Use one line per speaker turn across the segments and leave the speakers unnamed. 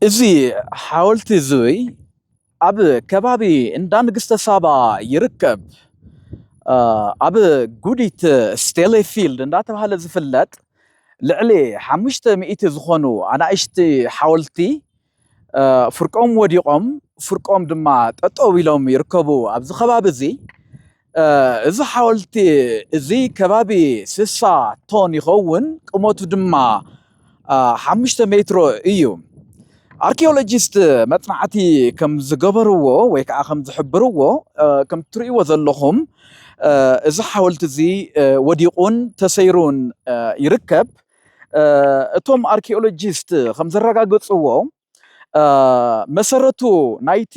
እዚ ሓወልቲ እዙይ ኣብ ከባቢ እንዳ ንግስተ ሳባ ይርከብ። ኣብ ጉዲት ስቴሌፊልድ እንዳተባሃለ ዝፍለጥ ልዕሊ ሓሙሽተ ሚእቲ ዝኾኑ ኣናእሽቲ ሓወልቲ ፍርቆም ወዲቖም ፍርቆም ድማ ጠጠው ኢሎም ይርከቡ ኣብዚ ከባቢ እዚ እዚ ሓወልቲ እዚ ከባቢ ስሳ ቶን ይኸውን፣ ቁመቱ ድማ ሓሙሽተ ሜትሮ እዩ። ኣርኪኦሎጂስት መጽናዕቲ ከም ዝገበርዎ ወይ ከዓ ከም ዝሕብርዎ ከም ትርእይዎ ዘለኹም እዚ ሓወልቲ እዚ ወዲቑን ተሰይሩን ይርከብ። እቶም ኣርኪኦሎጂስት ከም ዘረጋገጽዎ መሰረቱ ናይቲ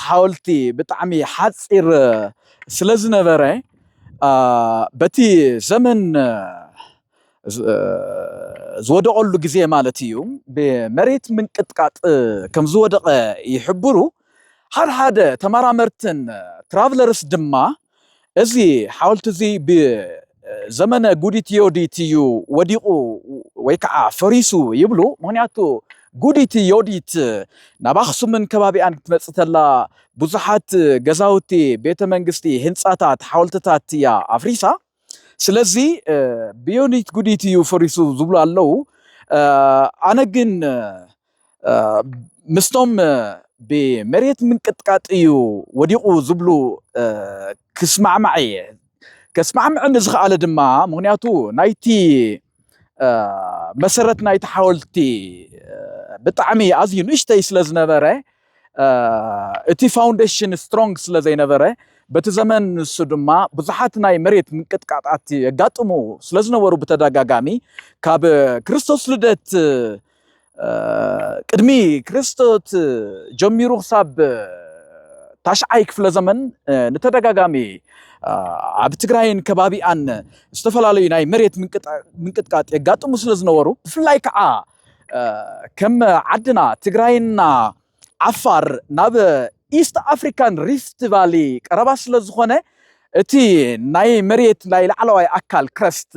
ሓወልቲ ብጣዕሚ ሓፂር ስለዝነበረ በቲ ዘመን ዝወደቐሉ ግዜ ማለት እዩ ብመሬት ምንቅጥቃጥ ከም ዝወደቐ ይሕብሩ። ሓድሓደ ተመራመርትን ትራቭለርስ ድማ እዚ ሓወልቲ እዚ ብዘመነ ጉዲት ዮዲት እዩ ወዲቑ ወይ ከዓ ፈሪሱ ይብሉ። ምክንያቱ ጉዲት ዮዲት ናብ ኣክሱምን ከባቢኣን ክትመፅእ ተላ ብዙሓት ገዛውቲ፣ ቤተ መንግስቲ፣ ህንፃታት፣ ሓወልትታት እያ ኣፍሪሳ። ስለዚ ብዮኒት ጉዲት እዩ ፈሪሱ ዝብሉ ኣለው። ኣነ ግን ምስቶም ብመሬት ምንቅጥቃጥ እዩ ወዲቑ ዝብሉ ክስማዕማዕ እየ። ከስማዕምዕ ንዝኸኣለ ድማ ምክንያቱ ናይቲ መሰረት ናይቲ ሓወልቲ ብጣዕሚ ኣዝዩ ንእሽተይ ስለ ዝነበረ እቲ ፋውንዴሽን ስትሮንግ ስለ ዘይነበረ በቲ ዘመን ንሱ ድማ ብዙሓት ናይ መሬት ምንቅጥቃጣት የጋጥሙ ስለ ዝነበሩ ብተደጋጋሚ ካብ ክርስቶስ ልደት ቅድሚ ክርስቶት ጀሚሩ ክሳብ ታሽዓይ ክፍለ ዘመን ንተደጋጋሚ ኣብ ትግራይን ከባቢኣን ዝተፈላለዩ ናይ መሬት ምንቅጥቃጥ የጋጥሙ ስለ ዝነበሩ ብፍላይ ከዓ ከም ዓድና ትግራይና ዓፋር ናብ ኢስት ኣፍሪካን ሪፍት ቫሊ ቀረባ ስለ ዝኾነ እቲ ናይ መሬት ናይ ላዕለዋይ ኣካል ክረስት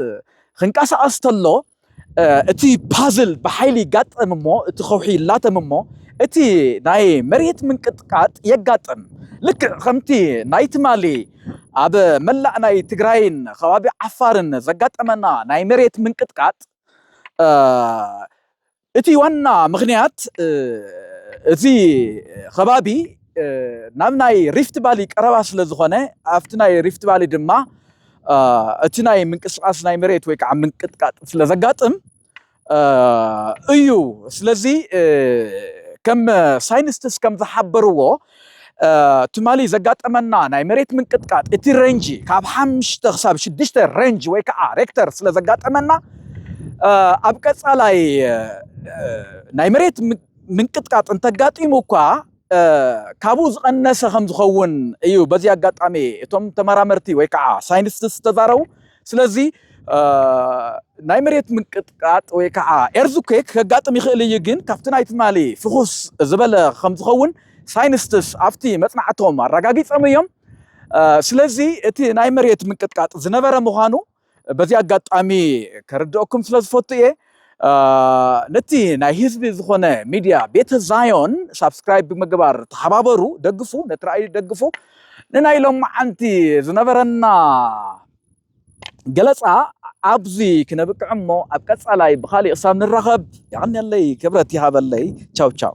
ክንቀሳቀስ ተሎ እቲ ፓዝል ብሓይሊ ይጋጠም እሞ እቲ ከውሒ ይላተም እሞ እቲ ናይ መሬት ምንቅጥቃጥ የጋጥም ልክዕ ከምቲ ናይ ትማሊ ኣብ መላእ ናይ ትግራይን ከባቢ ዓፋርን ዘጋጠመና ናይ መሬት ምንቅጥቃጥ እቲ ዋና ምኽንያት እቲ ኸባቢ ናብ ናይ ሪፍት ባሊ ቀረባ ስለ ዝኾነ ኣብቲ ናይ ሪፍት ባሊ ድማ እቲ ናይ ምንቅስቃስ ናይ መሬት ወይ ከዓ ምንቅጥቃጥ ስለ ዘጋጥም እዩ። ስለዚ ከም ሳይንስትስ ከም ዝሓበርዎ ትማሊ ዘጋጠመና ናይ መሬት ምንቅጥቃጥ እቲ ረንጂ ካብ ሓምሽተ ክሳብ ሽዱሽተ ረንጅ ወይ ከዓ ሬክተር ስለ ዘጋጠመና ኣብ ቀፃላይ ናይ መሬት ምንቅጥቃጥ እንተጋጢሙ እኳ ካብኡ ዝቐነሰ ከም ዝኸውን እዩ በዚ ኣጋጣሚ እቶም ተመራመርቲ ወይ ከዓ ሳይንቲስት ዝተዛረቡ ስለዚ ናይ መሬት ምንቅጥቃጥ ወይ ከዓ ኤርዝኩክ ከጋጥም ይኽእል እዩ፣ ግን ካብቲ ናይ ትማሊ ፍኹስ ዝበለ ከም ዝኸውን ሳይንስትስ ኣብቲ መጽናዕቶም ኣረጋጊጾም እዮም። ስለዚ እቲ ናይ መሬት ምንቅጥቃጥ ዝነበረ ምዃኑ በዚ ኣጋጣሚ ከርድኦኩም ስለ ዝፈቱ እየ። ነቲ ናይ ህዝቢ ዝኾነ ሚድያ ቤተ ዛዮን ሳብስክራይብ ብምግባር ተሓባበሩ፣ ደግፉ፣ ነቲ ራእይ ደግፉ። ንናይ ሎማዓንቲ ዝነበረና ገለፃ ኣብዚ ክነብቅዕ እሞ ኣብ ቀፃላይ ብካሊእ ክሳብ ንራኸብ የቐንየለይ ክብረት ይሃበለይ ቻው ቻው